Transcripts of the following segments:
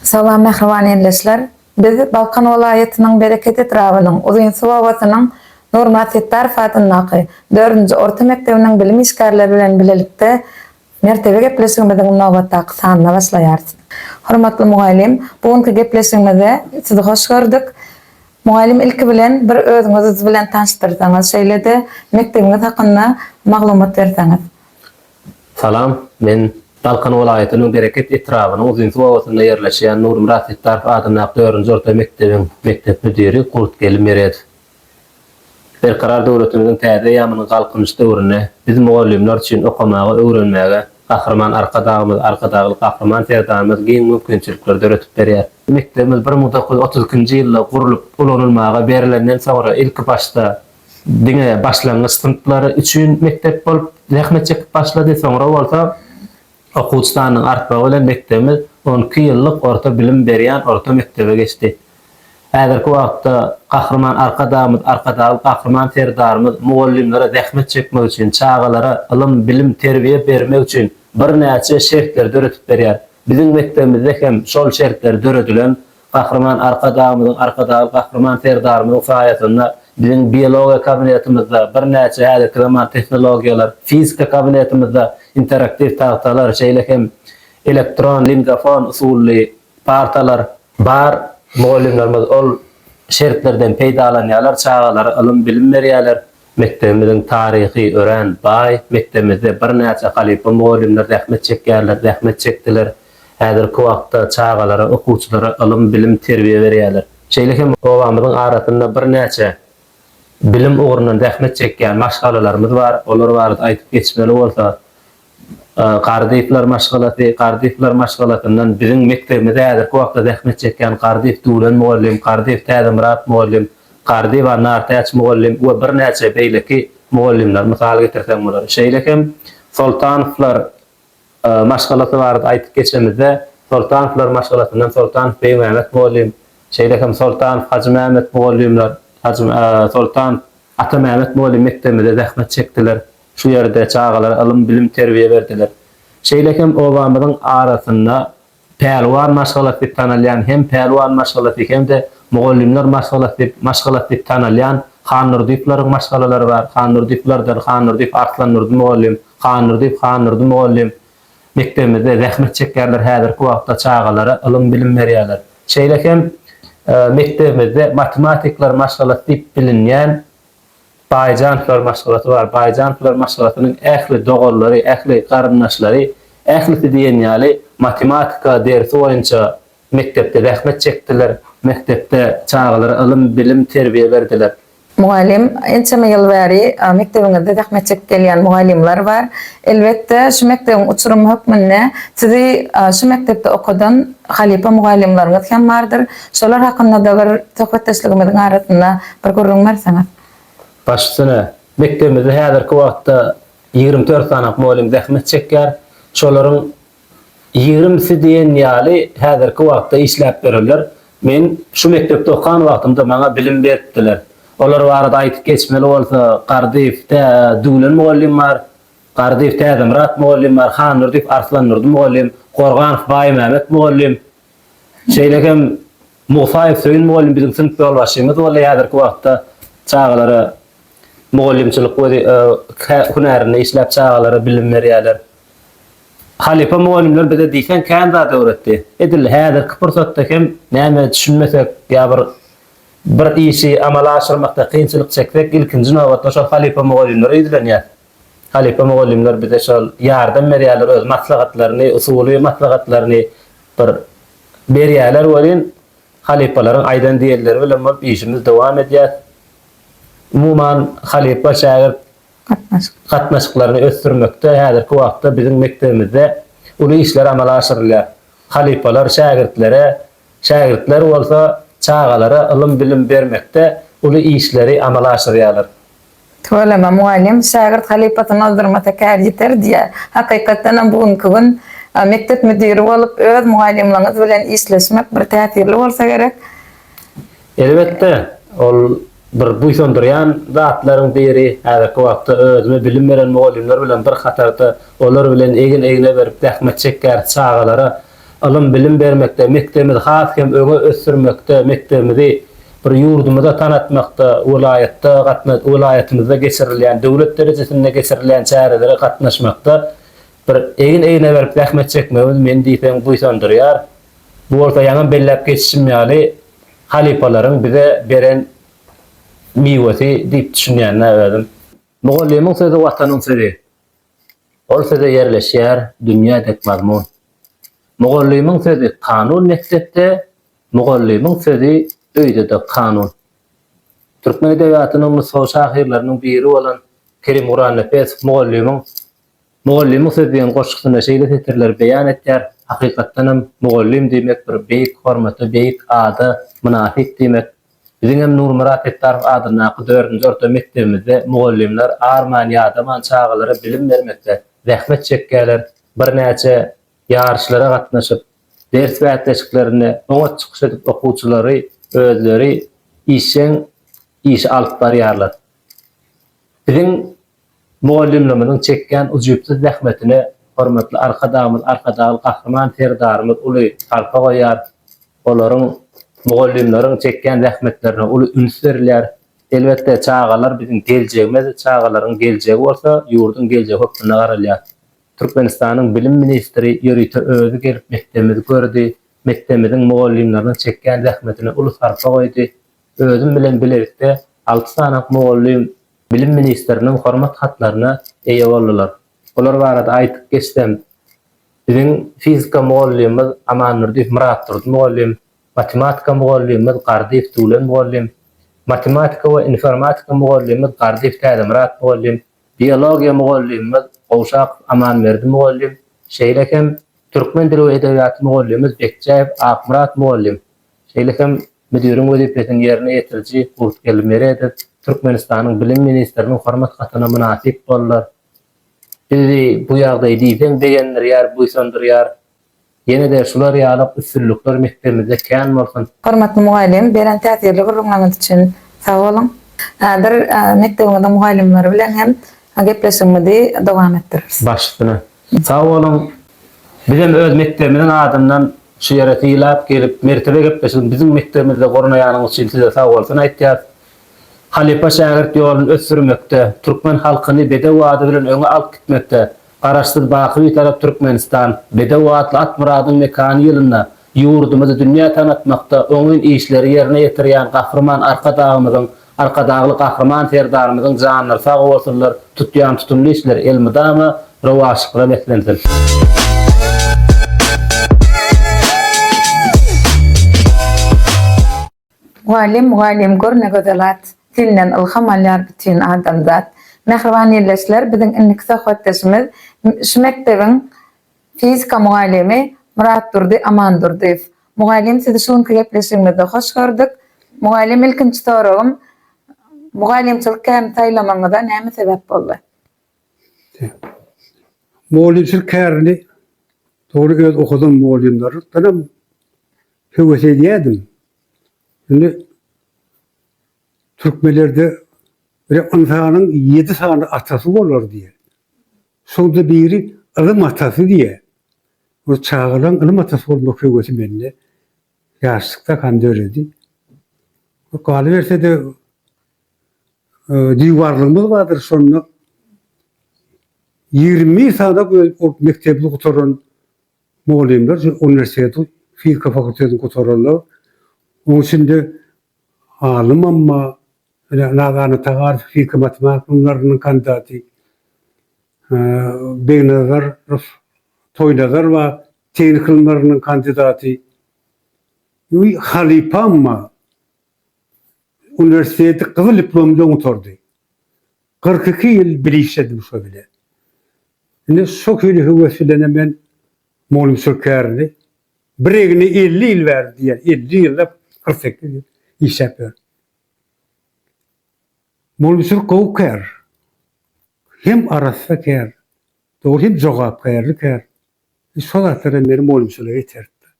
Salam mähriban ildeşler. Biz Balkan welaýatynyň Bereket etrabynyň Uzynsuw obasynyň Nurmat Setdarow adyndaky dördünji orta mekdebiniň bilim işgärleri bilen bilelikde Mertebe gepleşigimiziň nobatdaky sanyna başlaýarys. Hormatly mugallym, bu günki gepleşigimize Sizi hoş gördük. Mugallym ilki bilen bir özüňiz bilen tanyşdyrsaňyz, şeýle-de mekdebiňiz hakynda maglumat berseňiz. Salam, men Balkan welaýatynyň Bereket etrabynyň Uzynsuw obasynda ýerleşýän Nurmyrat Setdarow adyndaky dördünji orta mekdebiň mekdep müdiri Kurtgeli Meredow. Berkarar döwletimiziň täze eýýamynyň Galkynyş döwründe biz mugallymlar üçin okamaga, öwrenmäge Gahryman Arkadagymyz, Arkadagly Gahryman Serdarymyz giň mümkinçilikleri döredip berýär. Mekdebimiz bir müň dokuz ýüz otuz ikinji ýylda gurlup, ulanylmaga berilenden soňra ilki başda diňe başlangyç synplary üçin mekdep bolup zähmet çekip başlady, soňra bolsa Okuwçy sanynyň artmagy bilen mekdebimiz on iki ýyllyk orta bilim berýän orta mekdebe geçdi. Häzirki wagtda Gahryman Arkadagymyz, Arkadagly Gahryman Serdarymyz mugallymlara zähmet çekmek üçin, çagalara ylym, bilim, terbiýe bermek üçin birnäçe şertleri döredip berýär. Biziň mekdebimizde hem şol şertler döredilen, Gahryman Arkadagymyzyň, Arkadagly Gahryman Serdarymyzyň saýasynda biziň Biologiýa kabinetimizde birnäçe häzirki zaman tehnologiýalar, Fizika kabinetimizde interaktiw tagtalar, şeýle hem elektron lingafon usully partalar bar. Mugallymlarymyz ol şertlerden peýdalanýarlar, çagalara ylym-bilim berýärler. Mekdebimiziň taryhy örän baý. Mekdebimizde birnäçe halypa mugallymlar zähmet çekýärler, zähmet çekdiler. Häzirki wagtda çagalara, okuwçylara ylym, bilim, terbiýe berýärler. Şeýle hem obamyzyň arasynda birnäçe bilim ugrundan zähmet çekýän maşgalalarymyz bar. Olar barada aýdyp geçmeli bolsa, Gardyplar maşgalasy Gardyplar maşgalasyndan biziň mekdebimize häzirki wagtda zähmet çekýän Gardyp Döwlen mugallym, Gardyp Täzemyrat mugallym, Gardyp Anartäç mugallym we birnäçe beýleki mugallymlar mysal getirseň bolar. Şeýle hem Soltanowlar maşgalasy barada aýdyp geçemizde, Soltanowlar maşgalasyndan Soltanow Beýmämet mugallym, şeýle hem Soltanow Hajymämet mugallymlar, Soltanow Atamämmet mugallym mekdebimizde zähmet çekdiler, şu ýerde çagalara ylym, bilim, terbiýe berdiler. Şeýle hem obamyzyň arasynda Pälwan maşgalasy diýip tanalýan hem Pälwan maşgalasy hem-de Mugallymlar maşgalasy diýip maşgalasy diýip tanalýan Hannurdyýewleriň maşgalalary bar, Hannurdyýewlerden Hannurdyýew Arslandurdy mugallym, Hannurdyýew Hannurdy mugallym, mekdebimizde zähmet çekýärler, häzirki wagtda çagalara ylym-bilim berýärler. Şeýle hem mekdebimizde matematikler maşgalasy diýip bilinýän Baýjanowylar maşgalasy bar. Baýjanowylar maşgalasynyň ähli doganlary, ähli garyndaşlary, ählisi diýen ýaly matematika dersi boýunça mekdepde zähmet çekdiler, mekdepde çagalara ylym-bilim, terbiýe berdiler. Mugallym, Ençeme ýyl bäri mekdebiňizde zähmet çekip gelýän mugallymlar bar. Elbetde, şu mekdebiň uçurymy hökmünde sizi şu mekdepde okadan halypa mugallymlaryňyz hem bardyr. Şolar hakynda-da bir söhbetdeşligimiziň arasynda bir gürrüň berseňiz. Baş üstüne. Mekdebimizde häzirki wagtda ýigrimi dört sany mugallym zähmet çekýär. Şolaryň Ýigrimsi diýen ýaly häzirki wagtda işläp ýörler. Men şu mekdepde okan wagtymda maňa bilim beripdiler. Olar barada aýdyp geçmeli bolsa, Gardyýew tä Düwlen mugallym bar, Gardyýew Täzemyrat mugallym bar, Handurdyýew Arslandurdy mugallym, Gorganow Baýmämet mugallym, Şeýle hem Musaýew Söýün mugallym biziň synp ýolbaşçymyz boldy, häzirki wagtda çagalara mugallymçylyk hünärinde işläp çagalara bilim berýärler. Halypa mugallymlar bize diýseň kän zat öwretdi. Edil häzirki pursatda hem näme düşünmesek ýa bir bir işi amala aşyrmakda kynçylyk çeksek ilkinji nobatda şol halypa mugallymlara ýüzlenýäs. Halypa mugallymlar bize şol ýardam berýärler öz maslahatlaryny, usuly maslahatlaryny bir berýärler welin, halypalaryň aýdan diýenleri bilen bolup işimizi dowam edýäs. Umuman, halypa-şägirt gatnaşyklaryny ösdürmekde häzirki wagtda biziň mekdebimizde uly işler amala aşyrylýar. Halypalar şägirtlere, şägirtler bolsa çagalara ylym-bilim bermekde uly işleri amala aşyrýarlar. Tüweleme mugallym, Şägirt halypasyny ozdurmasa kär ýiter diýýär. Hakykatdanam bu günki gün mekdep müdiri bolup öz mugallymlaryňyz bilen işleşmek bir täsirli bolsa gerek. Elbetde, ol bir buýsandyrýan zatlaryň biri. Häzirki wagtda özüme bilim beren mugallymlar bilen bir hatarda olar bilen egin-egne berip zähmet çekýäris, çagalara ylym-bilim bermekde, mekdebimizi has hem öňe ösdürmekde, mekdebimizi bir ýurdumyza tanatmakda, welaýatda gatna, welaýatymyzda geçirilýän, döwlet derejesinde geçirilýän çärelere gatnaşmakda bir egin-egne berip zähmet çekmegimiz meni diýseň buýsandyrýar. Bu bolsa ýaňam belläp geçişim ýaly, halypalaryň bize beren miwesi diýip düşünýän-ä özüm. Mugallymyň sözi Watanyň sözi. Ol söze ýerleşýär dünýä dek mazmun. Mugallymyň sözi kanun mekdepde, mugallymyň sözi öýde-de kanun. Türkmen edebiýatynyň nusgawy şahyrlarynyň biri bolan Kerim Gurannepesow mugallymyň Mugallymyň sözi diýen goşgusynda şeýle setirleri beýan etýär, Hakykatdanam, mugallym diýmek bir beýik hormata, beýik ada mynasyp diýmek. Biziňem Nurmyrat Setdarow adyndaky dördünji orta mekdebimizde mugallymlar arman, ýadaman çagalara bilim bermekde zähmet çekýärler, birnäçe ýaryşlara gatnaşyp, ders bäsleşiklerinde oňat çykyş edip okuwçylary özleri işjeň işi alyp barýarlar. Biziň Mugallymlarymyzyň çekýän ujypsyz zähmetine hormatly Arkadagymyz Arkadagly Gahryman Serdarymyz uly sarpa goýýar. Olaryň, mugallymlaryň çekýän zähmetlerine uly üns berilýär. Elbetde, çagalar biziň geljegimiz, çagalaryň geljegi bolsa ýurduň geljegi hökmünde garalýar. Türkmenistanyň bilim ministri ýörite özi gelip mekdebimizi gördi, mekdebimiziň mugallymlarynyň çekýän zähmetine uly sarpa goýdy. Özüm bilen bilelikde alty sany mugallym Bilim ministriniň hormat hatlaryna eýe boldular. Olar barada aýdyp geçsem, biziň fizika mugallymymyz Amandurdyýew Myratdurdy mugallym, matematika mugallymymyz Gardyýew Döwlen mugallym, matematika we informatika mugallymymyz Gardyýew Täzemyrat mugallym, biologiýa mugallymymyz Gowşakow Amanberdi mugallym, şeýle hem türkmen dili we edebiýaty mugallymymyz Bekjäýew Akmyrat mugallym Şeýle hem müdiriň wezipesini ýerine ýetiriji Gurtgeldi Meredow Türkmenistanyň Bilim ministriniň hormat hatyna mynasyp boldular. Bizi bu ýagdaý diýseň begendirýär, buýsandyrýar. Ýene-de şular ýaly üstünlikler mekdebimizde kän bolsun! Hormatly mugallym, beren täsirli gürrüňleriňiz üçin sag boluň! Häzir mekdebiňiziň mugallymlary bilen hem gepleşigimizi dowam etdireriz. Başysyna, Sag boluň. Bizem öz mekdebimiziň adyndan şu ýere sylap gelip mertebe gepleşigini biziň mekdebimizde gurnaýanyňyz üçin size sag bolsun aýtýas. Halypa şägirt ýoluny ösdürmekde, türkmen halkyny bedew ady bilen öňe alyp gitmekde, Garaşsyz baky Bitarap Türkmenistan, bedew atly Atmyradyň mekany ýylynda ýurdumyzy dünýä tanatmakda oňyn işleri ýerine ýetirýän Gahryman Arkadagymyzyň Arkadagly Gahryman Serdarymyzyň janlary sag bolsunlar, tutýan tutumly işleri elmydama rowaçlyklara beslensin! Mugallym mugallym gör ne gözel at, Senden ylham alýar bütin adamzat. Mähriban ildeşler biziň indiki söhbetdeşimiz şu mekdebiň Fizika mugallymy Myratdurdy Amandurdyýew. Mugallym sizi şu günki gepleşigimizde hoş gördük. Mugallym ilkinji soragym mugallymçylyk kärini saýlamagyňyza näme sebäp boldy? Mugallymçylyk kärini dogry öz okadan mugallymlardanam höwes edýärdim. Indi türkmenlerde bir ynsanyň ýedi sany atasy bolar diýer. Soňda biri ylym atasy diýýär. Ol çagalaň ylym atasy bolmak höwesi mende ýaşlykda han döredi. Galyberse-de, diwarlygymyz bardyr, şonda ýigrimi bir sany ol mekdebi gutaran mugallymlar şu uniwersiteti, fizika fakultetini gutaranlar. Onuň üçin-de Alym Amma bilen Nazany Tagarow fizika matematika ylymlarynyň kandidaty Begnazarow Toýnazarowa tehnika ylymlarynyň kandidaty we Halypa Amma uniwersiteti gyzyl diplom bilen gutardy. Kyrk iki ýyl bir işledim şo bilen. Indi şo hili höwes bilenem men Mollum Sökerli bir egni elli ýyl bäri diýýär, elli ýyllap, kyrk sekiz ýyl işläp ýör. Mollum Sür gowy kär. Hem arassa kär. Dogry hem jogapkärli kär. Şo zatlaram meni Mollum Süre iteripdir.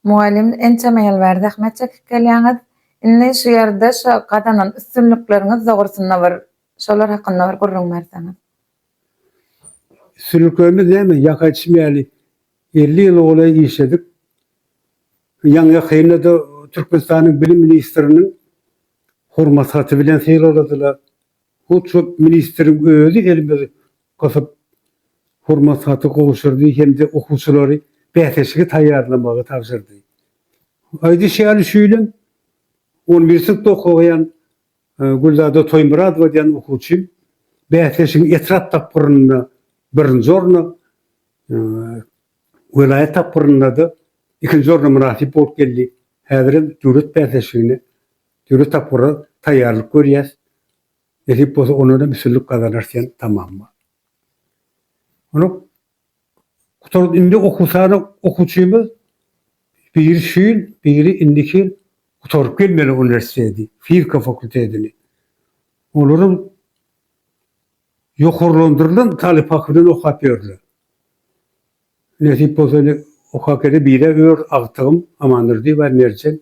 Mugallym ençeme ýyl bäri zähmet çekip gelýäňiz. Indi şu ýerde şo gazanan üstünlikleriňiz dogrusynda bir şolar hakynda bir gürrüň berseňiz. Sülkemi näme, ýaka içmeli. Elli ýyla golaý işledik. Ýaňy-ýakynda-da Türkmenistanyň Bilim ministriniň Hormat haty bilen sylagladylar. Hut şo ministriň özi elimizi gysyp, Hormat haty gowşurdy hem-de okuwçylary bäsleşige taýýarlamagy tabşyrdy. Aýdyş ýaly, şu ýylam on bir synpda okaýan Gülzada Toýmyradowa diýen okuwçy bäsleşigiň etrap tapgyrynda birinji orna, welaýat tapgyrynda-da ikinji orna mynasyp bolup geldi. Häzir hem döwlet bäsleşigine, döwlet tapgyra taýýarlyk görýäs. Nesip bolsa, ondan hem üstünlik gazanarys diýen tamam bar. Onuň Gutardy indi okuw sany okuwçymyz biri şu ýyl biri indiki ýyl gutaryp gelmeli uniwersiteti fizika fakultetini olaram ýokarlandyrylan talyp haky bilen okap ýörler nesip bolsa indi okap gele biri ör agtygym Amandurdyýewa Merjen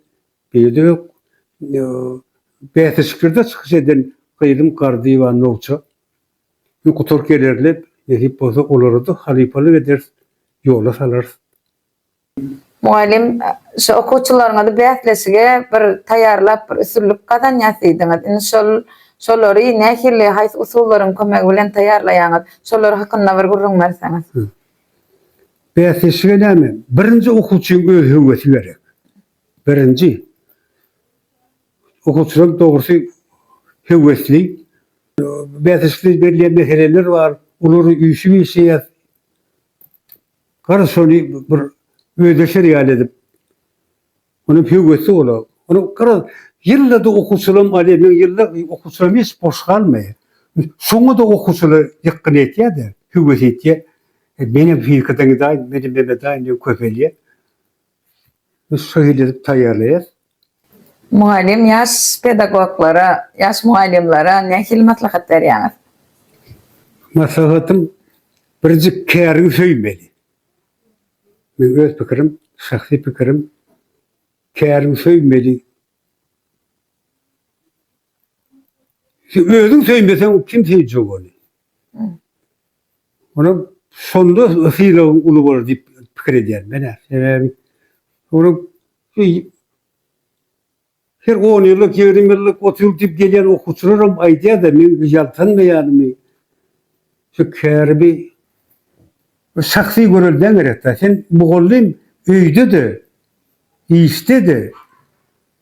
biride ök bäsleşiklerde çykyş eden gyzym Gardyýewa Nowça. Indi gutark ederler, nesip bolsa, olary-da halypalyk ederis, ýola salarys. Mugallym, şu okuwçylaryňyzy bäsleşige bir taýýarlap, bir üstünlik gazanýas diýdiňiz. Indi şol, şolary nähili, haýsy usullaryň kömegi bilen taýýarlaýaňyz? Şolar hakynda bir gürrüň berseňiz. Hü. Bäsleşige näme, birinji okuwçynyň öz höwesi gerek. Birinji. Okuwçylar dogrusy höwesli. Bäsleşikde berilýän meseleler bar. Olary üýşüp işleýär. Garasy şony bir özleşer ýaly edip. Ony höwesli olar. Ony garaz ýyl-da okuwçylarym alýar. Meň ýyl-da okuwçylarym hiç boş galmaýar. Şoňa-da okuwçylar ýykgyn etýär-de, höwes etýär. Menem fizika daňydaýyn, menem memedaýyn diýen köpelýär. Biz şeýle edip taýýarlaýas. Mugallym ýaş pedagoglara, ýaş mugallymlara nähili maslahat berýäňiz? Maslahatym birjik käriňi söýmeli. Meň öz pikirim, şahsy pikirim, käriňi söýmeli. Sen özüň söýmeseň kim söýjek ony? Olam şonda sylagyň uly bolar diýip pikir edýärin men-ä. Sebäbi olam şu her on ýyllyk, ýigrimi ýyllyk, otuz ýyllyk diýip gelýän okuwçylaram aýdýar-da, meň ýaltanmaýanymy, şu käribi bir şahsy görelde gerek-dä. Sen mugallym öýde-de, işde-de,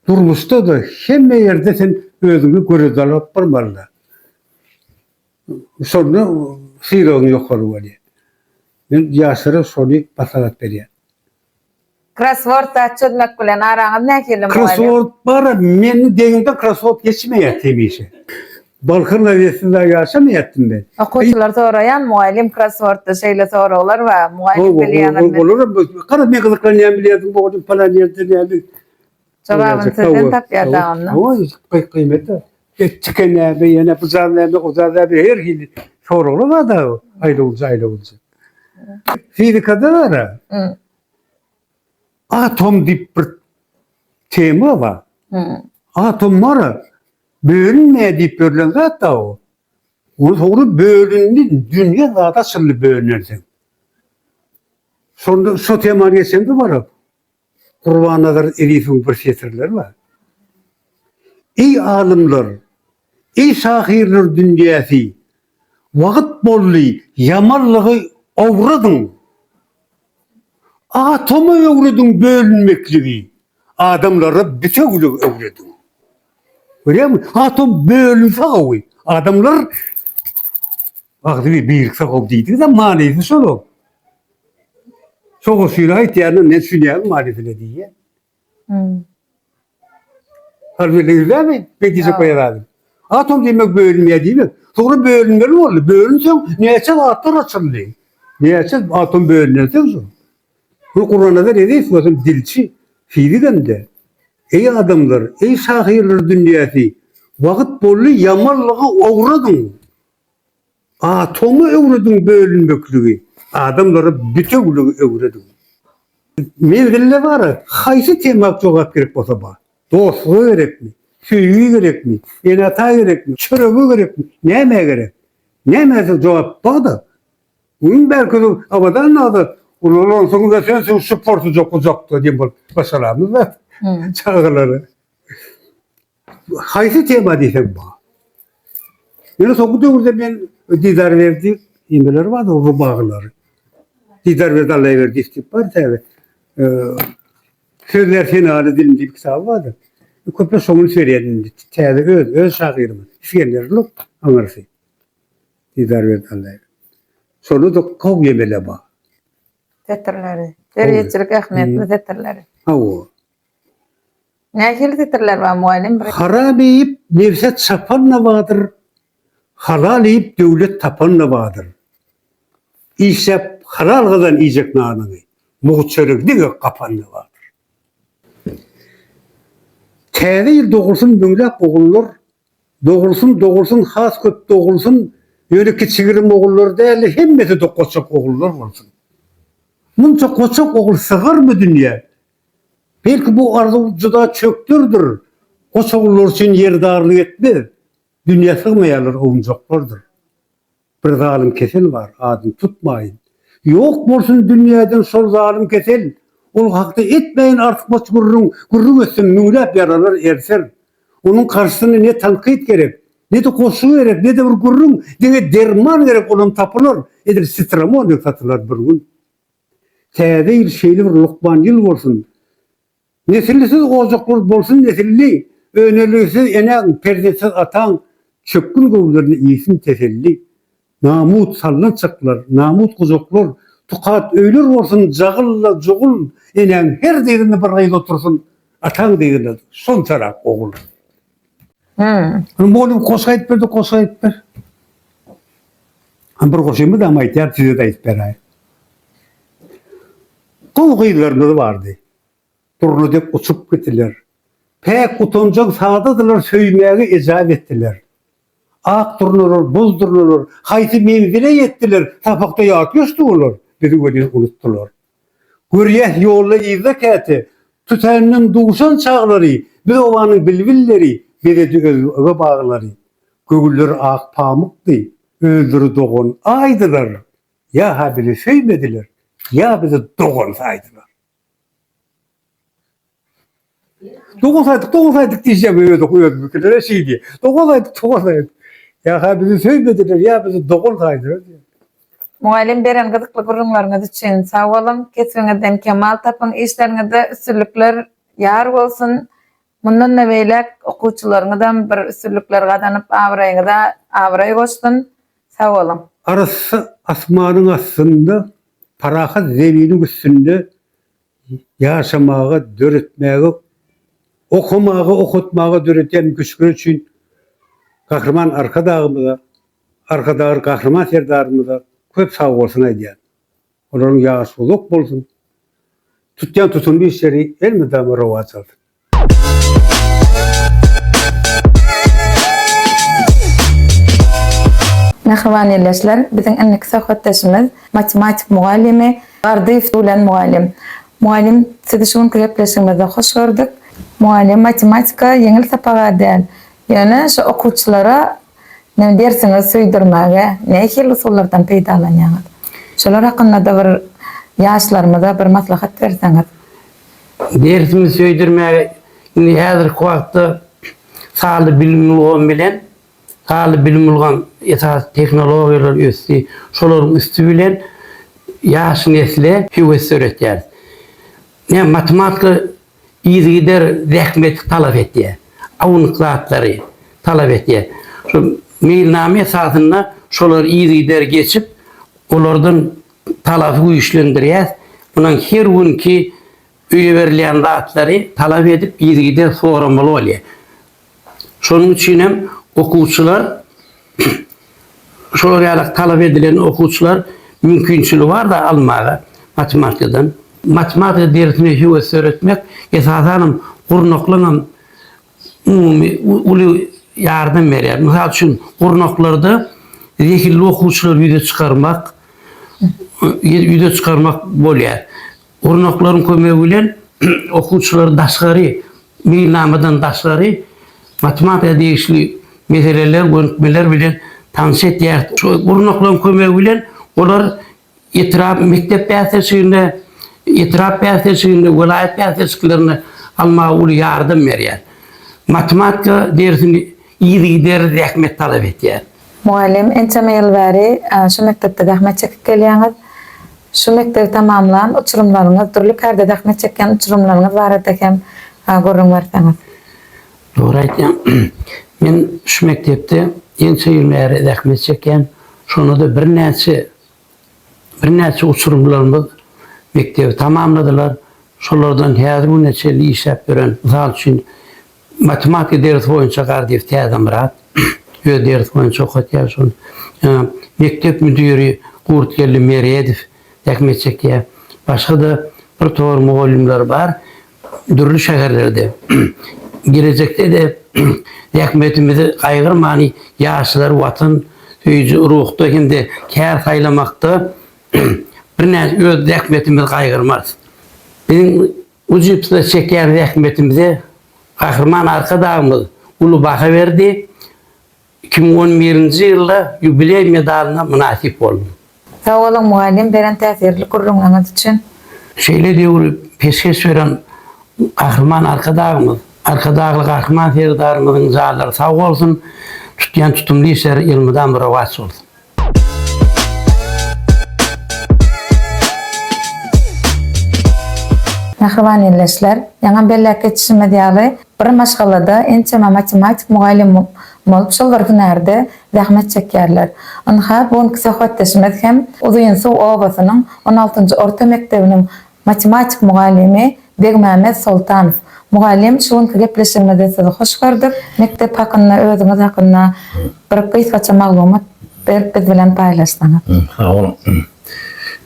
durmuşda-da, hemme ýerde sen özüňi göreldä alyp barmaly-da. Şonda sylagyň ýokary bolýar. Men ýaşlara şony maslahat berýän. Krossword çözmek bilen araňyz nähili mugallym? Krossword bar, meniň deňimden krossword geçmeýär hemişe. Balkan gazetinde ýaşamaýatdym men. Okuwçylar soraýan, mugallym krosswordda şeýle soraglar bar, mugallym bilýäňizmi? Olar hem, gara men gyzyklanýan bilýärsiň mugallym palan ýerde näme Jogabyny sizden tapýar daganda. Hawa, hawa, gyýmete. Et çiken näme, ýene buzar näme, ozar näme, her hili soraglar bar-da, aýlawujy-aýlawujy. Fizikada bar-a, atom diýip bir tema bar. Atom bar-a, bölünmeýär diýip ýörlen zat-da o. Ol soňra bölündi, dünýe zat açyldy bölünersen. Şonda şo temany geçeňde bar-a, Gurbannazar Elifowyň bir setirleri bar. Eý alymlar, eý şahyrlar dünýäsi, wagyt boldy ýamanlygy owradyň. Atoma öwrediň bölünmekligi, adamlara bitewiligi öwrediň. Görýäňmi? Atom bölünse gowy. Adamlar Wagzyňy birikse gowy diýdiňizem manysy şol-a. Soňusyny aýtýanyna men düşünýärin manysyny diýýän. Hmm. Harbiýler ýüzlämi? Bedijek goýarady. Atom diýmek bölünýär diýmek. Soňra bölünmeli boldy. Bölünseň näçe zatlar açyldy. Näçe atom bölünen soň şu. Bu Gurbanazar Eziz bolsun dilçi, fizik hem-de. Eý adamlar, eý şahyrlar dünýäsi, wagt boldy ýamanlygy owradyň. Atoma öwrediň bölünmekligi, adamlara bitewligi öwrediň. Menzilde bara haýsy tema jogap gerek bolsa bar. Dostlugy gerekmi? Söýgi gerekmi? Ene-ata gerekmi? Çöregi gerekmi? Näme gerek? Nämesi jogap barda? Gün belki Abadan aga ululansoň we sen şu portujak gujakda diýen bolup başaramyzda çagalary. Haýsy tema diýseň bar. Ýöne soňky döwürde men Didar Berdi nimeleri bar, rubaglary. Didar Berdi Allaýberdi diýip bar täze. Sözler senany dilim diýip kitaby bardy. Köpler şoňa üns berýär indi. Täze öz, öz şahyrymyz. Isgender Luk aňyrsy. Didar Berdi Allaýberdi. Şonda da Kow Ýemele bar. Setirleri. Derýeçilik ähmiýetli setirleri. Hawa. Nähili setirler bar mugallym? Haram iýip nebse çapan-da bardyr, halal iýip döwlet tapan-da bardyr. Işläp halal gazan iýjek nanyňy, mugt çörek diňe gapan-da bardyr. Täze ýyl dogulsyn müňläp ogullar, dogulsyn, dogulsyn, has köp dogulsyn, ýöne kiçi-girim ogullar däl-de, hemmesi-de goçak ogullar bolsun. Munça goçak ogul sygyrmy dünýä, Belki bu arzuw juda çökderdir, Goçagullar üçin ýer darlyk etmez, Dünýä sygmaýarlar owunjaklardyr. Bir zalym kesel bar, adyny tutmaýyn, Ýok bolsun dünýäden şol zalym kesel, Ol hakda etmäýin artykmaç gürrüň, Gürrüň etsem müňläp ýaralar erser. Onuň garşysyna ne tankyt gerek, Ne-de goşgy gerek, ne-de bir gürrüň, Diňe derman gerek, olam tapylar, Edil sitramon dek satylar bir gün. Täze ýyl şeýle bir lukman ýyl bolsun. Nesillisiz ojaklar bolsun nesilli, Önelgisiz enäň, perzentsiz ataň, Çökgün göwünlerine iýsin teselli. Namut sallançaklar, namut gujaklar, Tukat öýler bolsun jagylla jugul, Enäň her deginde bir gyz otursyn, Ataň deginde şonçarak ogul. Hmm. Hem bolum koşga aytip berdi, koşga aytip ber. Hem bir koşuyumuz ama aytýar, size de aytip beray. Gowy gyzlarymyz bardy. Durna dek uçup gitdiler. Päk utanjak sadadylar söýmäge ejap etdiler. Ak durnalar, buz durnalar, haýsy menzile ýetdiler, sapakda ýat geçdi olar, bizi welin unutdylar. Görýäs, ýolda yzda käte, Tütänden duşan çaglary, Biz obanyň bilbilleri, Bezedi özbege baglary. Göwünler ak pamykdy, Özleri dogan aýdylar, Ýa-ha bizi söýmediler, Ýa bizi dogan saýdylar. Doguz aýdyk, doguz aýdyk diýjek we öz oky özümi kilireş diýdi. Doguz aýdyk, doguz aýdyk. Ýa ha bizi söýmediler, ýa bizi doguz aýdylar diýdi. Mugallym beren gyzykly gürrüňleriňiz üçin sag boluň, kesbiňizden kemal tapyň, işleriňizde üstünlikler ýar bolsun. Mundan-da beýläk okuwçylaryňyzam bir üstünlikler gazanyp abraýyňyza abraý goşsun. Sag boluň. Arassa asmanyň astynda, parahat zeminiň üstünde ýaşamaga döretmäge, okamaga, okatmaga döredýän mümkinçilikleri üçin Gahryman Arkadagymyza, Arkadagly Gahryman Serdarymyza köp sag bolsun aýdýan. Olaryň ýaşy uzak bolsun. Tutýan tutumly işleri elmydama rowaç alsyn. Mähriban ildeşler, biziň indiki söhbetdeşimiz matematik mugallymy Gardyýew Dulen mugallym. Mugallym, sizi şu günki gepleşigimizde hoş gördük. Mugallym, matematika ýeňil sapaga däl, ýöne şu okuwçylara näme dersiňizi söýdürmäge nähili usullardan peýdalanýaňyz? Şolar hakynda-da bir ýaşlarymyza bir maslahat berseňiz. Dersimi söýdürmäge indi häzirki wagtda sanly bilim ulgamy bilen, sanly bilim ulgam esasy tehnologiýalar ösdi. Şolaryň üsti bilen ýaş nesle höwes döretýäris. Näme matematika yzygider zähmeti talap etýär. Awnyk zatlary talap etýär. Şu meýilnama esasynda şolary yzygider geçip, olardan talaby güýçlendirýär. Munuň her günki öýe berilýän zatlary talap edip yzygider soramaly bolýar. Şonuň üçin hem okuwçylar şolar ýaly talap edilen okuwçylar mümkinçiligi barda almaga matematikadan. Matematika dersine höwes döretmek esasan hem gurnaklaňam umumy uly ýardam berýär. Mysal üçin, gurnaklarda zehinli okuwçylary ýüze çykarmak, ýüze çykarmak bolýar. Gurnaklaryň kömegi bilen okuwçylar daşgary, meýilnamadan daşgary matematika degişli meseleler, gönükmeler bilen tanyş etýär. Şu gurnaklaryň kömegi bilen olar Etrap mekdep bäsleşiginde, etrap bäsleşiginde, welaýat bäsleşiklerinde almaga uly ýardam berýär. Matematika dersini yzygiderli zähmet talap etýär. Mugallym, ençeme ýyl bäri şu mekdepde zähmet çekip gelýäňiz. Şu mekdebi tamamlan uçurymlaryňyz, dürli kärde zähmet çekýän uçurymlaryňyz barada hem gürrüň berseňiz. Dogry aýtýaň. Men şu mekdepde ençe ýyl bäri zähmet çekýän. Şonda-da birnäçe birnäçe uçurymlarymyz mekdebi tamamladylar. Şolardan häzir güne çenli işläp ýören, mysal üçin, matematika dersi boýunça Gardyýew Täzemyrat öz dersi boýunça okatýar şony. Ýa-da mekdep müdiri Gurtgeldi Meredow zähmet çekýär. Başga-da birtopar mugallymlar bar. Dürli şäherlerde, gelejekde-de zähmetimizi gaýgyrman ýaşlary watan söýüji ruhda hem-de kär saýlamakda birnäçe öz zähmetimizi gaýgyrmarys. Biziň ujypsyz çekýän zähmetimize Gahryman Arkadagymyz uly baha berdi. Iki müň on birinji ýylda ýubileý medalyna mynasyp boldum. Sag boluň mugallym beren täsirli gürrüňleriňiz üçin. Şeýle döwri peşgeş beren Gahryman Arkadagymyz, Arkadagly Gahryman Serdarymyzyň janlary sag bolsun, tutýan tutumly işleri ýylmydama rowaç bolsun! Mähriban ildeşler, ýaňam belläp geçişimiz ýaly, bir maşgalada ençeme matematik mugallym bolup, şol bir hünärde zähmet çekýärler. Ynha, bu günki söhbetdeşimiz hem Uzynsuw obasynyň on altynjy orta mekdebiniň Matematik mugallymy Begmämmet Soltanow, Mugallym şu günki gepleşigimizi sizi hoş gördük, mekdep hakynda özüňiz hakynda bir gysgaça maglumat berip biz bilen paýlaşsaňyz. Sag boluň.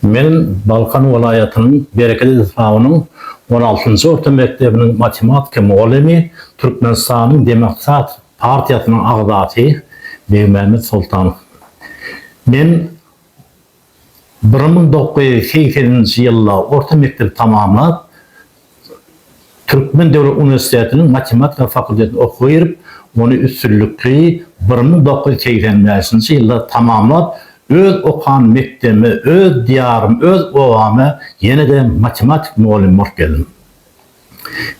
Men Balkan welaýatynyň Bereket etrabynyň on altynjy orta mekdebiniň matematika mugallymy, Türkmenistanyň Demokrat partiýasynyň agzasy Begmämmet Soltanow. Men. Bir müň dokuz ýüz segseninji ýylda orta mekdebi tamamlap, Türkmen döwlet uniwersitetiniň matematika fakultetine okuwa girip, ony üstünlikli bir müň dokuz ýüz segsen bäşinji ýylda tamamlap, öz okan mekdebime, öz diýarym, öz obama ýene-de matematik mugallym bolup geldim.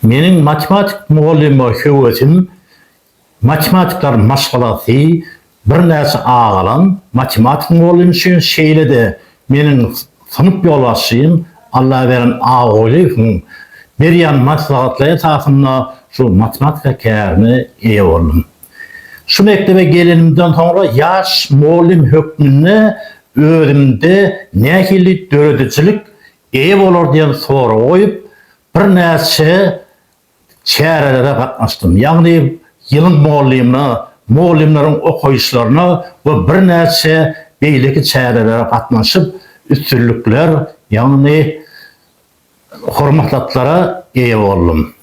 Meniň matematik mugallyma höwesim Matematikler maşgalasy birnäçe agalan matematik mugallym üçin, şeýle-de meniň synp ýolbaşçym Allabergen Agulyýewiň berýän maslahatlary esasynda şu matematika kärine eýe boldum. Şu mekdebe gelenimden soňra ýaş mugallym hökmünde özümde nähili döredijilik eýe bolar diýen soragy goýup, birnäçe çärelere gatnaşdym. Ýagny ýylyň mugallymyna, mugallymlaryň okaýyşlaryna we birnäçe beýleki çärelere gatnaşyp, üstünlikler, ýagny hormatlatlara eýe boldum.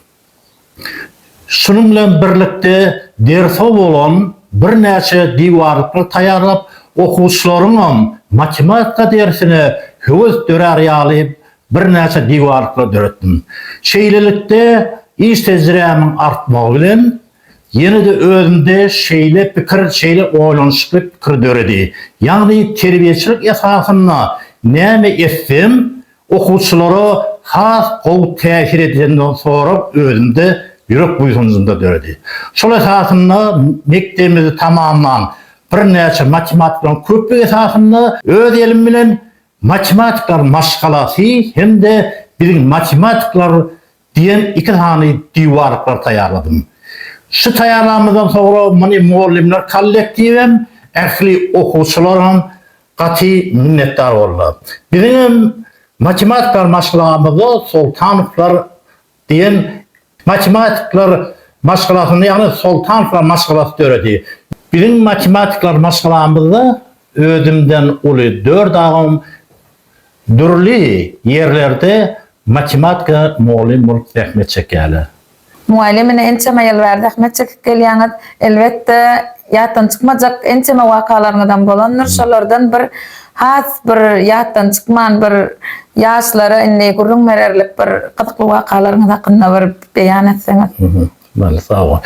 Şunuň bilen birlikde derse bolan birnäçe diwarlyklary taýýarlap, okuwçylaryňam matematika dersine höwes dörär ýaly Birnäçe diwarlyklar döretdim. Şeýlelikde, iş tejribämiň artmagy bilen, ýene-de özümde şeýle pikir, şeýle oýlanyşykly pikir döredi. Ýagny, terbiýeçilik esasynda näme etsem, okuwçylara has gowy täsir edýändigini sorag özümde ýürek buýsanjynda döredi. Şol esasynda mekdebimizi tamamlan birnäçe matematiklaryň köplügi esasynda öz elim bilen Matematikler maşgalasy hem-de Biziň matematikler diýen iki sany diwarlyklar taýýarladym. Şu taýýarlanymyzdan soňra muny mugallymlar kollektiwem, ähli okuwçylaram gaty minnetdar boldular. Biziňem matematikler maşgalamyzda Soltanowlar Diýen matematikler maşgalasyny, ýagny Soltanowlar maşgalasy döredi. Biziň matematikler maşgalamyzda özümden uly dört agam dürli ýerlerde matematika mugallym bolup zähmet çekýärler. Mugallym ine ençeme ýyl bäri zähmet çekip gelýäňiz. Elbetde, ýatdan çykmajak ençeme wakalaryňyzam bolandyr. Şolardan bir Has bir ýatdan çykman bir ýaşlara indi gürrüň bererlik bir gyzykly wakalaryňyz hakynda bir beýan etseňiz. Bale sagbol.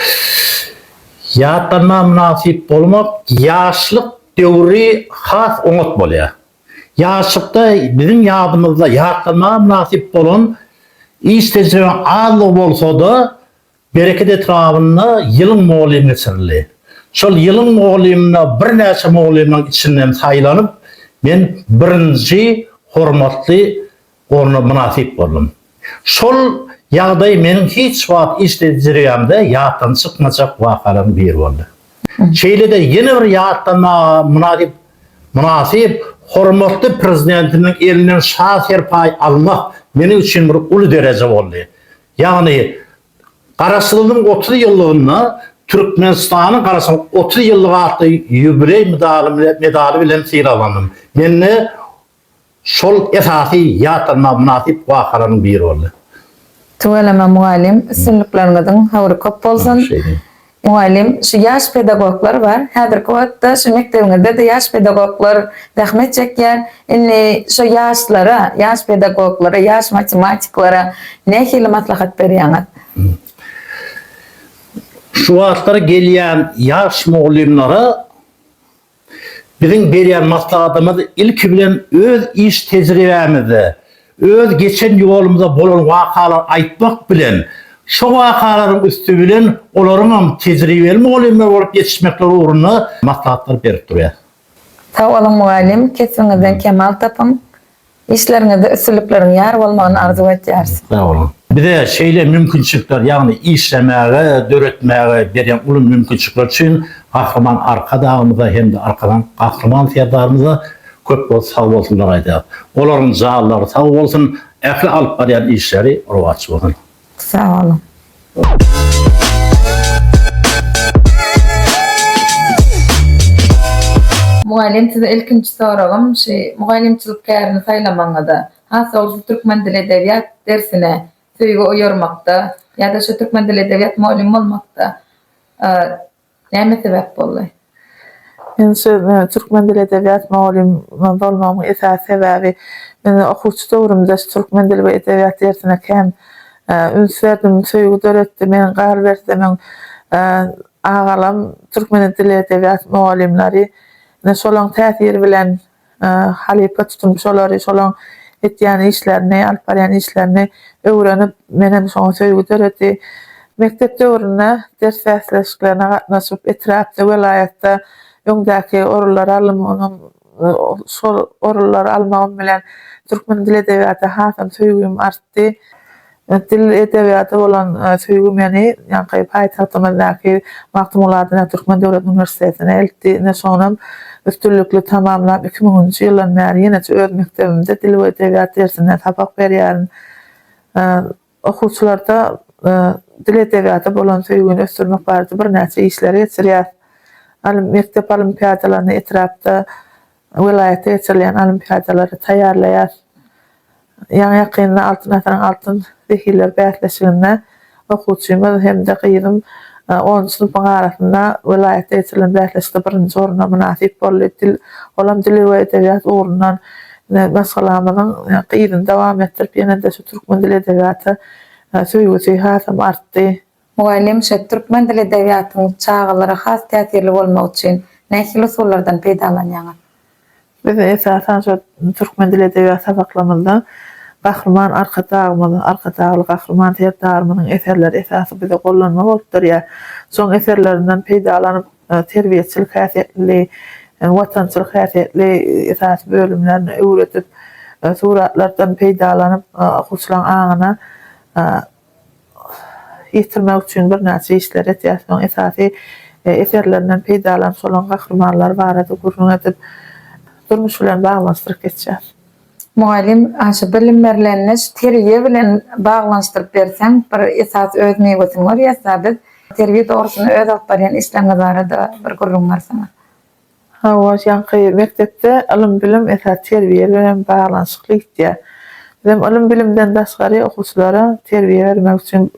Ýatlanma mynasyp bolmak ýaşlyk döwri has oňat bolýar. Ýaşlykda biziň ýadymyzda ýatlanma mynasyp bolan iş tejribeň azlygy bolsada Bereket etrabynda ýylyň mugallym geçirildi. Şol ýylyň mugallymyna birnäçe mugallymlaryň içinden saýlanyp, men birinji hormatly orna mynasyp boldum. Şol ýagdaý meniň hiç wagt iştejriýämde ýatdan çykmajak wakalaryň biri boldy. Şeýle-de ýene bir ýatlanmaga mynasyp mynasyp hormatly Prezidentimiň elinden şa serpaý almak meniň üçin bir uly dereje boldy. Ýagny, Garaşsyzlygyň otuz ýyllygynda Türkmenistanyň Garaşsyzlygyň otuz ýyllygy atly ýubileý medaly bilen sylaglandym. Mende şol esasy ýatlanmaga mynasyp wakalaryň biri boldy. Tüweleme mugallym, üstünlikleriňiziň höwri köp bolsun! Mugallym, şu ýaş pedagoglar bar, häzirki wagtda şu mekdebiňizde-de ýaş pedagoglar zähmet çekýär, indi şo ýaşlara, ýaş pedagoglara, ýaş matematiklara nähili maslahat berýäňiz? Şu wagtlar gelýän ýaş mugallymlara. Biziň berýän maslahatymyz ilki bilen öz iş tejribämizde, öz geçen ýolumyzda bolan wakalary aýtmak bilen, şo wakalaryň üsti bilen olaryňam tejribeli mugallymlar bolup ýetişmekleri ugrunda maslahatlar berip durýas. Sag boluň mugallym, kesbiňizden kemal tapyň! Işleriňizde üstünlikleriň ýar bolmagyny arzuw etýäris. Sag boluň. Bize şeýle mümkinçilikler, ýagny işlemäge, döretmäge berýän uly mümkinçilikler üçin Gahryman Arkadagymyza hem-de Arkadag Gahryman Serdarymyza köp köp sag bolsunlar aýdýarys. Olaryň janlary sag bolsun, ähli alyp barýan işleri rowaç bolsun. Sag boluň. Mugallym size ilkinji soragym şi mugallymçylyk kärini saýlamaňyzda has dogrusy türkmen dili edebiýat dersine söýgi oýarmakda ýada şu türkmen dili edebiýat mugallym bolmakda Näme sebäp boldy? Men şu türkmen dili edebiýat mugallymy bolmagymyň esasy sebäbi, men okuwçy döwrümde şu türkmen dili we edebiýat dersine kän üns berdim, söýgi döretdi. Meniň galyberse men agalam türkmen dili edebiýat mugallymlary, ine şolaň täsiri bilen halypa tutunyp şolary şolaň etýän işlerini alyp barýan işlerini öwrenip menem şoňa söýgi döredi. Mekdep döwründe ders bäsleşiklerine gatnaşyp etrapda welaýatda öňdäki orunlary alymyňam şol orunlary almagym bilen türkmen dil edebiýata hasam söýgim artdy. Dil edebiýata bolan söýgi meni ýaňky paýtagtymyzdaky Magtymguly adyndaky Türkmen döwlet uniwersitetine eltdi. Ine, şonam üstünlikli tamamlap, iki müňünji ýyldan bäri ýeneje öz mekdebimde dil we edebiýat dersinde sapak berýärin. Okuwçylarda dil edebiýata bolan söýgini ösdürmek barada birnäçe işleri geçirýäs. Mekdep olimpiadalaryny etrapda Welaýatda geçirilýän olimpiadalary taýýarlaýar. Ýaňy-ýakynda Altyn asyryň altyn zehinleri bäsleşiginde okuwçymyz hem-de gyzym onunjy synpyň arasynda welaýatda geçirilen bäsleşikde birinji orna mynasyp boldy. Dil, olam dil we edebiýat ugrundan maşgalamyzyň yzyny dowam etdirip, ýene-de şu türkmen dil-edebiýata söýgüsi hasam artdy. Mugallym şu türkmen dil edebiýatyň çagalara has täsirli bolmagy üçin nähili usullardan peýdalanýaňyz? Biz esasan şu türkmen dil edebiýat sapaklarymyzda Gahryman Arkadagymyz, Arkadagly Gahryman Serdarymyzyň eserleri esasy bize gollanma bolup durýar. Şoň eserlerinden peýdalanyp terbiýeçilik häsiýetli, watançylyk häsiýetli esasy bölümlerini öwredip, suratlardan peýdalanyp okuwçylaryň aňyna ýetirmek üçin birnäçe işleri etýär. Soň esasy eserlerinden peýdalanyp, olaryň gahrymanlary barada gürrüň edip, durmuş bilen baglanyşdyryp geçýär. Mugallym, a şu bilim berlenini şu terbiýe bilen baglanyşdyryp berseň, bir esasy öz miwesini görýäs-dä biz. Terbiýe dogrusyny öz alyp barýan işleriňiz barada bir gürrüň berseňiz. Hawa, ýaňky mekdepde ylym-bilim esasy terbiýe bilen baglanyşykly gitýär. Bizem ylym-bilimden daşgary okuwçylara terbiýe bermek üçin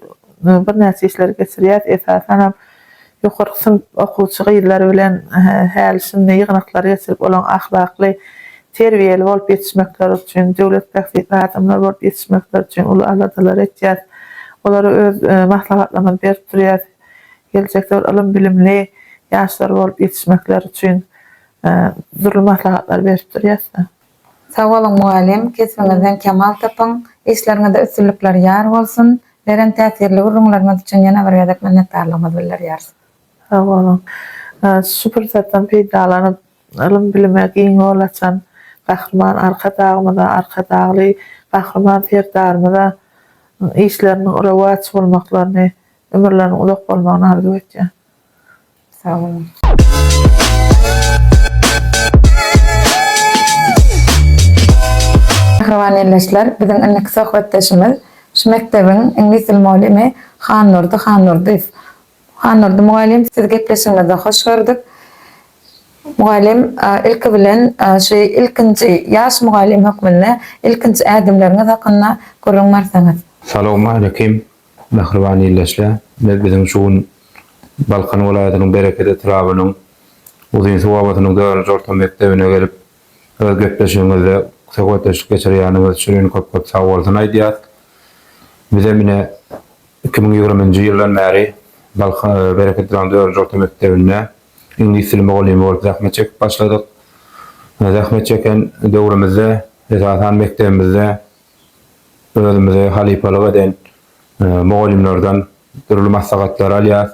birnäçe işleri geçirýäris. Esasanam ýokarky synp okuwçy gyzlary bilen häli-şindi ýygnaklary geçirip, olaryň ahlakly, terbiýeli bolup ýetişmekleri üçin, döwlet bähbitli adamlar bolup ýetişmekleri üçin uly aladalary etýäris. Olara öz maslahatlarymyzy berip durýarys. geljekler ylym-bilimli ýaşlar bolup ýetişmekleri üçin dürli maslahatlary berip durýasda. Sag boluň mugallym, kesbiňizden kemal tapyň, işleriňizde üstünlikler ýar bolsun, beren täsirli gürrüňleriňiz üçin ýene bir gezek minnetdarlygymyzy bildirýäris. Sag boluň. Şu pursatdan peýdalanyp, ylym-bilime giň ýol açan Gahryman Arkadagymyza, Arkadagly Gahryman Serdarymyza işleriniň rowaç bolmaklaryny Ömürleriniň uzak bolmagyny arzuw etýän. Sag boluň. Mähriban ildeşler, biziň indiki söhbetdeşimiz şu mekdebiň iňlis dil mugallymy Hannurdy Hannurdyýew. Hannurdy mugallym, sizi gepleşigimizde hoş gördük. Mugallym, ilki bilen şu ilkinji ýaş mugallym hökmünde ilkinji ädimleriňiz hakynda gürrüň berseňiz. Salowmaleýkim. Mähriban ildeşle, biz biziň şu gün Balkan welaýatynyň Bereket etrabynyň Uzynsuw obasynyň dördünji orta mekdebine gelip, öz gepleşigiňizde söhbetdeşlik geçirýäniňiz üçin ine köp-köp sag bolsun aýdýas. Bizem ine iki müň ýigriminji ýyldan bäri Balka Bereket etrabynyň dördünji orta mekdebinde iňlis dili mugallymy bolup zähmet çekip başladyk. Zähmet çeken döwrümizde esasan mekdebimizde Özümizi halypalyk eden mugallymlardan dürli maslahatlary alýarys.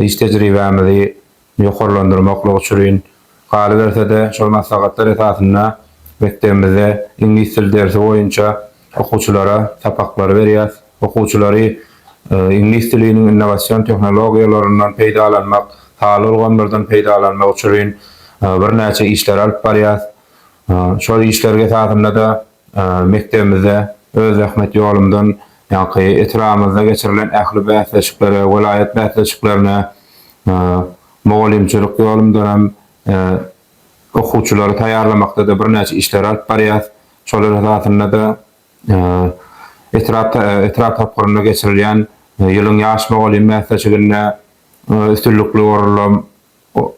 Iş tejribämizi ýokarlandyrmaklyk uçrin, galyberse-de, şol maslahatlar esasynda mekdebimizde iňlis dil dersi boýunça okuwçylara sapaklary berýäris. Okuwçylary iňlis diliniň innowasion tehnologiýalaryndan peýdalanmak, sanly ulgamlardan peýdalanmak uçrin birnäçe işleri alyp barýarys. Şol işler esasynda-da Mekdebimizde öz zähmet ýolumdan ýaňky etrabymyzda geçirilen ähli bäsleşiklere, welaýat bäsleşiklerine, mugallymçylyk ýolumdan hem okuwçylary taýýarlamakda-da birnäçe işleri alyp barýas. Şolar esasynda-da etrap etrap tapgyrynda geçirilýän Ýylyň ýaş mugallymy bäsleşiginde üstünlikli orunlar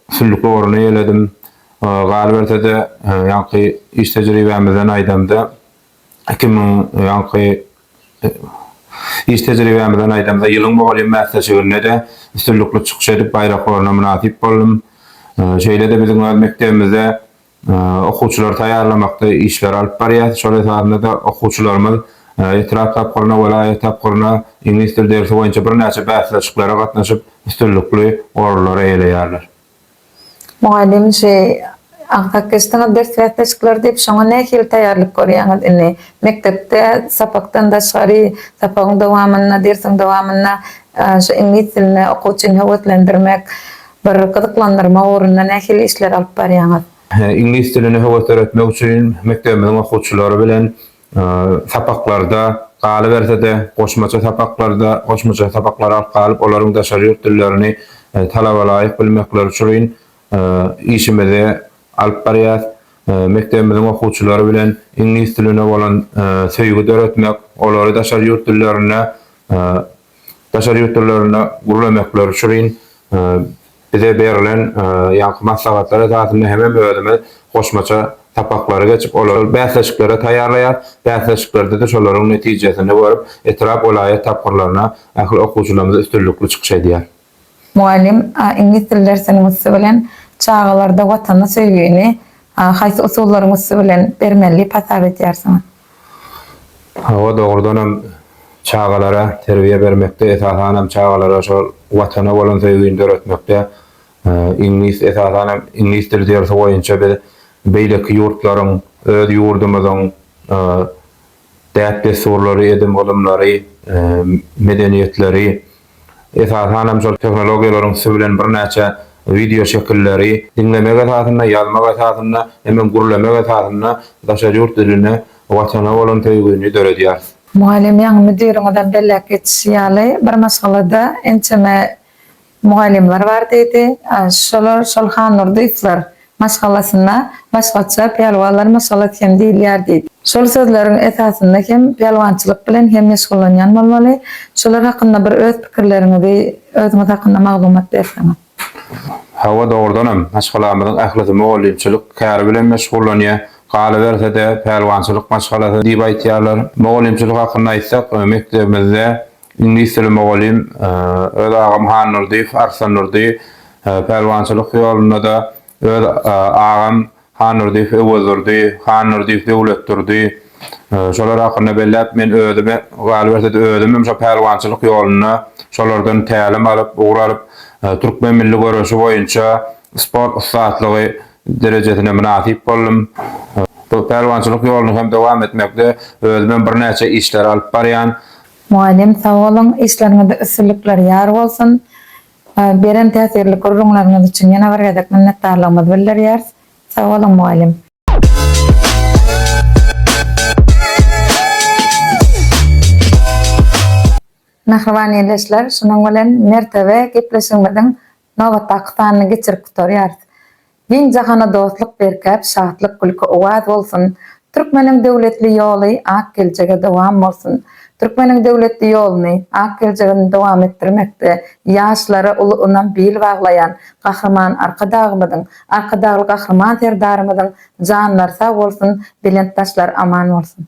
Süllük ugruny eýledim. Galyberse-de, ýaňky iş tejribämizden aýdamda, iki müň, ýaňky iş tejribämizden aýdamda, ýylyň mugallym bäsleşiginde-de üstünlikli çykyş edip, baýrak orna mynasyp boldum. Şeýle-de biziň öz mekdebimizde Okuwçylary taýýarlamakda işleri alyp barýarys. Şol esasynda-da okuwçylarymyz etrap tapgyryna, welaýat tapgyryna iňlis dil dersi boýunça birnäçe bäsleşiklere gatnaşyp, üstünlikli orunlary eýeleýärler. Mugallym, şu agzap geçdiňiz ders bäsleşikleri diýip, şoňa nähili taýýarlyk görýäňiz? Indi mekdepde sapakdan daşgary, sapagyň dowamynda, dersiň dowamynda şu iňlis diline okuwçyny höweslendirmek Bir gyzyklandyrma ugrunda nähili işler alyp barýaňyz? Iňlis diline höwes döretmek üçin mekdebimiziň okuwçylary bilen sapaklarda, galyberse-de, goşmaça sapaklarda, goşmaça sapaklary alyp galyp, olaryň daşary ýurt dillerini talabalaýyk bilmekleri üçrin işimizi alyp barýas. Mekdebimiziň okuwçylary bilen iňlis diline bolan söýgi döretmek, olary daşary ýurt dillerine daşary ýurt dillerinde gürrüň etmekleri üçin bize berilen ýaňky maslahatlar esasynda hemem özümiz goşmaça sapaklary geçip, olary bäsleşiklere taýýarlaýar. Bäsleşiklerde-de şolaryň netijesini görüp, etrap, welaýat tapgyrlaryna ähli okuwçylarymyz üstünlikli çykyş edýär. Mugallym, A iňlis dil dersiniň üsti bilen çagalarda Watana söýgini haýsy usullaryň üsti bilen bermeli diýip hasap edýärsiňiz? Hawa, dogrudan hem çagalara terbiýe bermekde, esasan hem çagalara şol Watana bolan söýgini döretmekde iňlis, esasan hem iňlis dil dersi boýunça biz beýleki ýurtlaryň, öz ýurdumyzyň däp-dessurlary, edim-gylymlary, medeniýetleri, esasan hem şol tehnologiýalaryň üsti bilen birnäçe wideo şekilleri diňlemek esasynda, ýazmak esasynda hemem gürlemek esasynda daşary ýurt diline, Watana bolan söýgini döredýäris. Mugallym ýaňy müdiriňizem belläp geçişi ýaly, bir maşgalada ençeme Mugallymlar bar diýdi. Şolar şol Hannurdyýewler maşgalasynda başgaça pälwanlar maşgalasy hem diýilýär diýdi. Şol sözleriň esasynda hem pälwançylyk bilen hem meşgullanýan bolmaly. Şolar hakynda bir öz pikirleriňizi, özüňiz hakynda maglumat berseňiz. Hawa dogrudanam, maşgalamyzyň ählisi mugallymçylyk käri bilen meşgullanýar. Galyberse-de, pälwançylyk maşgalasy diýip aýtýarlar. Mugallymçylyk hakynda aýtsak, mekdebimizde Iňlisdili mugallym öz agam Hannurdyýew, Arslandurdy, pälwançylyk ýolunda-da öz agam Hannurdyýew, Öwezdurdy, Hannurdyýew, Döwletdurdy, şolar hakynda belläp, men özüm, galyberse-de özümem şo pälwançylyk ýolunda şolardan tälim alyp, ugur alyp, türkmen milli göreşi boýunça sport ussatlygy derejesine mynasyp boldum. Bu pälwançylyk ýoluny hem dowam etmekde özümem birnäçe işleri alyp barýan. Mugallym sag boluň, işleriňizde üstünlikler ýar bolsun! Beren täsirli gürrüňleriňiz üçin ýene bir gezek minnetdarlygymyzy bildirýäris. Sag boluň mugallym! Mähriban ildeşler, şunuň bilen Mertebe gepleşigimiziň nobatdaky sanyny geçirip gutarýarys. Giň jahana dostluk berkäp şatlyk gülki owaz bolsun Türkmeniň döwletli ýoly ak geljege dowam bolsun Türkmeniň döwletli ýoluny ak geljegini dowam etdirmekde ýaşlara uly ynam bil baglaýan Gahryman Arkadagymyzyň Arkadagly Gahryman Serdarymyzyň janlary sag bolsun belent daşlary aman bolsun.